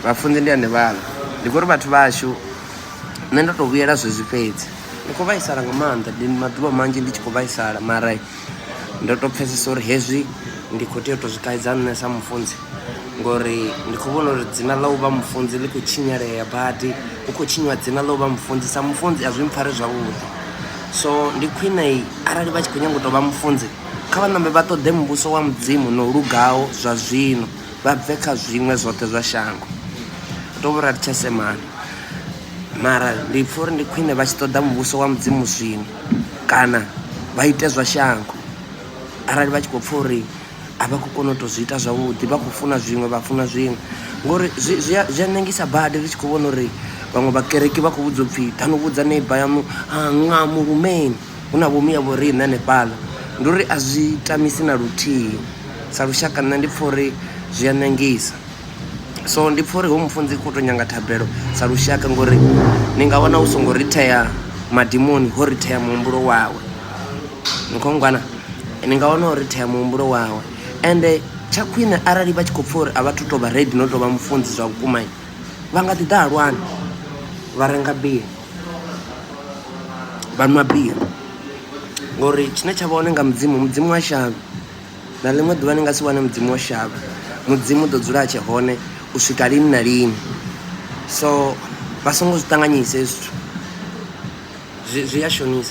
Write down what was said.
vhafunzi ndi ane vhala ndi khou ri vhathu vhashu nṋe ndo tou vhuyela zwezwi fhedzi ndi khou vhaisala nga maanḓa ndi maḓuvha manzhi ndi tshi khou vhaisala mara ndo tou pfhesesa uri hezwi ndi khou tea u tou zwi kaidza nṋe sa mufunzi ngori ndi khou vhona uri dzina ḽa u vha mufunzi ḽi khou tshinyalea badi hu khou tshinyiwa dzina ḽa u vha mufunzi sa mufunzi a zwi mpfhari zwavhuḓi so ndi khwine arali vha tshi khou nyanga u tou vha mufunzi Kha vha ṋambe vha ṱoḓe muvhuso wa Mudzimu no lugaho zwa zwino, vha bve kha zwiṅwe zwoṱhe zwa shango. U tou vhura ri tsha semana. Mara ndi pfha uri ndi khwine vha tshi ṱoḓa muvhuso wa Mudzimu zwino kana vha ite zwa shango arali vha tshi khou pfha uri a vha khou kona u tou zwi ita zwavhuḓi vha khou funa zwiṅwe vha funa zwiṅwe ngori zwi zwi zwi a ṋengisa badi ri tshi khou vhona uri vhaṅwe vhakereki vha khou vhudzwa upfhi ḓa no vhudza neiba yaṋu a ṅa murumeni. hu na vhomu ya vhoriṋe hanefhaḽa ndi uri a zwi tamisi na luthihi sa lushaka nṋe ndi pfha uri zwi a ṋangisa so ndi pfha uri ho mufunzi kho to nyanga thabelo sa lushaka ngori ni nga wana u songo ri thea madimoni ho ri thea muhumbulo wawe ni kho ngwana ni nga wana uri thea muhumbulo wawe ende tsha khwine arali vha tshi khou pfha uri a vha thu to vha ready no to vha mufunzi zwa vhukuma vha nga ḓi ḓa halwani vha renga bia. vha nwa biri ngori tshine tsha vha hone nga mudzimu mudzimu wa shavha na ḽiṅwe ḓuvha ni nga si wane mudzimu wa shavha mudzimu u ḓo dzula a tshe hone u swika lini na lini so vha songo zwi ṱanganyisa hezwi zwithu zwi a shonisa